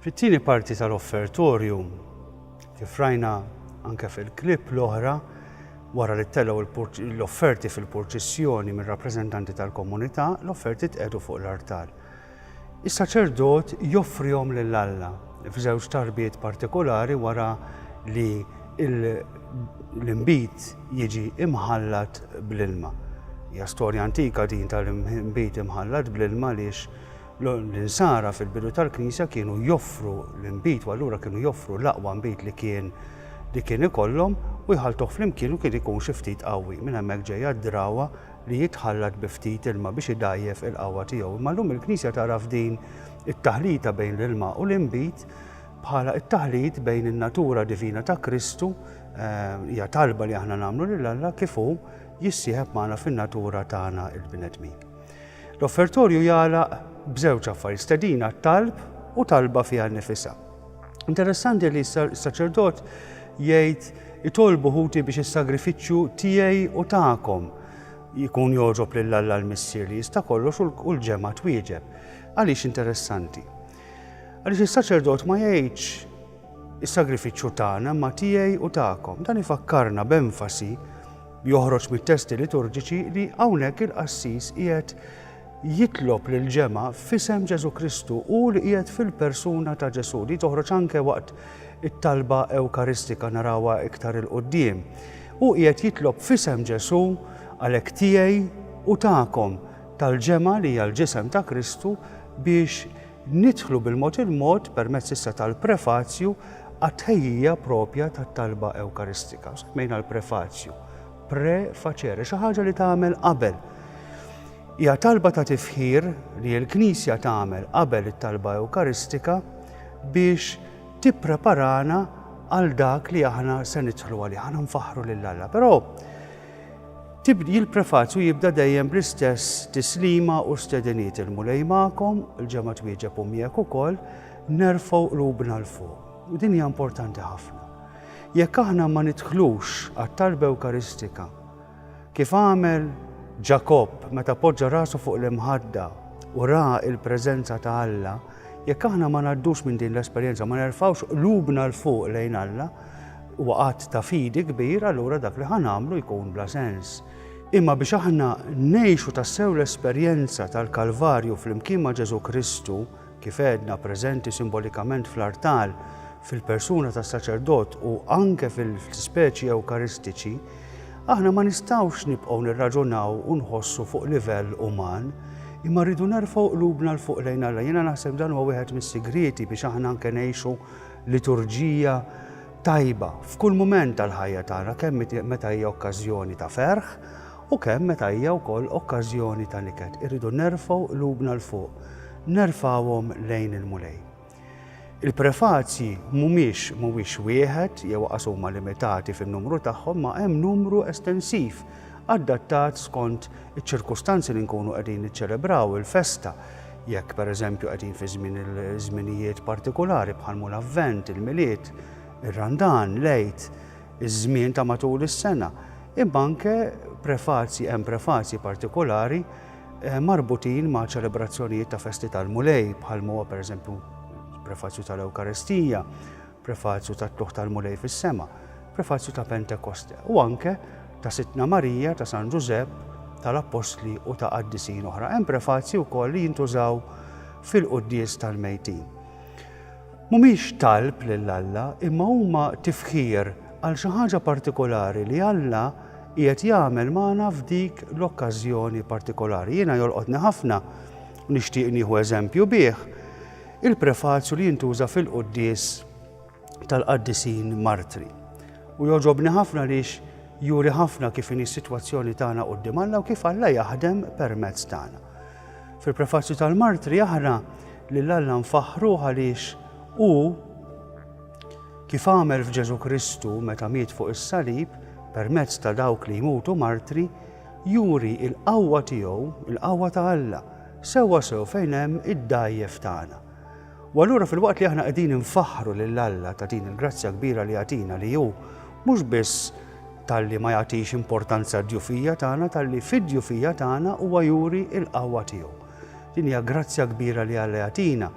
Fit-tieni parti tal-offertorju, kif rajna anke fil-klip l-oħra, wara li ttelgħu l-offerti fil-purċissjoni mir-rappreżentanti tal-komunità, l-offerti tqegħdu fuq l-artal. Is-saċerdot joffrihom lil Alla f'żewġ tarbiet partikolari wara li l-inbid jiġi imħallat bl-ilma. Hija storja antika din tal-inbid imħallat bl-ilma għaliex l-insara fil-bidu tal-Knisja kienu joffru l-inbid u allura kienu joffru l-aqwa nbid li kien li kien ikollhom u jħaltuh flimkien u kien ikun xi ftit qawwi. Minn hemmhekk ġejja d-drawa li jitħallat bi ftit ilma biex idgħajjef il-qawwa tiegħu. Imma llum il-Knisja tara f'din it-taħlita bejn l-ilma u l-inbid bħala t-taħlit bejn in-natura divina ta' Kristu, eh, hija talba li aħna nagħmlu lil Alla kif hu jissieħeb magħna fin-natura tagħna il-bnedmin. L-offertorju jagħlaq b'żewġ affarijiet stedina talb u talba fiha nnifisha. Interessanti li s-saċerdot jgħid itolbu ħuti biex is-sagrifiċċju tiegħi u tagħkom jkun jogħġob lil Alla l-Missier li jista' kollox u l-ġemgħa twieġeb. Għaliex interessanti? Għaliex is-saċerdot ma jgħidx is-sagrifiċċju tagħna ma tiegħi u tagħkom. Dan ifakkarna b'enfasi joħroġ mit-testi liturġiċi li hawnhekk il-qassis qiegħed jitlob lill-ġemgħa f'isem Ġesù Kristu, hu li qiegħed fil-persuna ta' Ġesù. Din toħroġ anke waqt it-talba Ewkaristika, narawha iktar 'il quddiem. Hu qiegħed jitlob f'isem Ġesù, għalhekk tiegħi u tagħkom, tal-ġemgħa li hija l-ġisem ta' Kristu biex nidħlu bil-mod il-mod permezz issa tal-prefazju għat-tħejjija proprja tat-talba Ewkaristika. Semmejna l-prefazju. Pre facere, xi ħaġa li tagħmel qabel. Hija talba ta' tifħir li l-Knisja tagħmel qabel it-talba Ewkaristika biex tippreparana għal dak li aħna se nidħlu għalih, aħna nfaħru lil Alla. Però il-prefazju jibda dejjem bl-istess tislima u stediniet il-mulej ma'kom, il-ġemma twieġeb u miegħek ukoll, nerfgħu qlubna l fuq. U din hija importanti ħafna. Jekk aħna ma nidħlux għat-Talba Ewkaristika, kif għamel Ġakobb meta poġġa rasu fuq l-imħadda u ra l-preżenza ta' Alla, jekk aħna ma ngħaddux minn din l-esperjenza, ma nerfgħux qlubna 'l fuq lejn Alla, huwa att ta' fidi kbir, allura dak li ħa nagħmlu jkun bla sens. Imma biex aħna ngħixu tassew l-esperjenza tal-Kalvarju flimkien ma' Ġesù Kristu, kif għedna, preżenti simbolikament fl-artal fil-persuna tas-saċerdot u anke fil-ispeċi ewkaristiċi, aħna ma nistgħux nibqgħu nirraġunaw u nħossu fuq livell uman, imma rridu nerfgħu qlubna 'l fuq lejn Alla. Jiena naħseb dan huwa wieħed mis-sigrieti biex aħna anke ngħixu liturġija tajba f'kull mument tal-ħajja tagħna, kemm meta hija okkażjoni ta' ferħ u kemm meta hija wkoll okkażjoni ta' niket. Irridu nerfgħu qlubna 'l fuq. Nerfgħuhom lejn il-Mulej. Il-prefazji mhumiex mhuwiex wieħed jew aqas huma limitati fin-numru tagħhom ma' hemm numru estensiv adattat skont iċ-ċirkustanzi li nkunu qegħdin niċċelebraw il-festa. Jekk pereżempju qegħdin fi żmien il-żminijiet partikulari bħal mhu l-Avvent, il-Milied, ir-Randan, l-Għid, iż-żmien ta' matul is-sena. Imma anke prefazji hemm prefazji partikulari marbutin ma' ċelebrazzjonijiet ta' festi tal-Mulej, bħal huwa pereżempju prefazju tal-Ewkaristija, prefazju tat-Tluħ tal-Mulej fis-sema, prefazju ta' Pentekoste, u anke ta' Sidtna Marija, ta' San Ġużepp, tal-Appostli u ta' qaddisin oħra. Hemm prefazji wkoll li jintużaw fil-quddies tal-mejtin. Mhumiex talb lil Alla imma huma tifħir għal xi ħaġa partikolari li Alla qiegħed jagħmel magħna f'dik l-okkażjoni partikolari. Jiena jolqotni ħafna u nixtieq nieħu eżempju bih il-prefazju li jintuża fil-quddies tal-qaddisin martri. U jogħġobni ħafna lix juri ħafna kif inhi s-sitwazzjoni tagħna quddiem Alla u kif Alla jaħdem permezz tagħna. Fil-prefazzju tal-Martri jaqra li l-Alla nfaħħru għaliex hu kif għamel f'Ġesu Kristu meta miet fuq is-salib permezz ta' dawk li jmutu martri, juri il-qawwa tiegħu, il-qawwa ta' Alla, sewwa sew fejn hemm id-dgħajjef tagħna. U allura filwaqt li aħna qegħdin infaħħru lil Alla ta' din il-grazzja kbira li jagħtina li hu mhux biss talli ma jagħtix importanza d-djufija tagħna talli fid-djufija tagħna huwa juri l-qawwa tiegħu. Din hija grazzja kbira li Alla jagħtina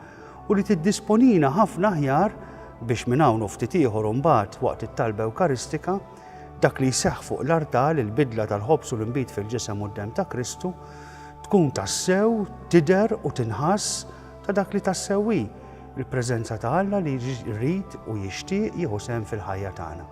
u li tiddisponina ħafna aħjar biex minn hawn u ftit ieħor imbagħad waqt it-talba Ewkaristika dak li jseħħ fuq l-artal il-bidla tal-ħobż u l-inbid fil-ġisem u d-dem ta' Kristu tkun tassew tidher u tinħass Ta' dak li tassew hi l-preżenza ta' Alla li jrid u jixtieq jieħu sehem fil-ħajja tagħna.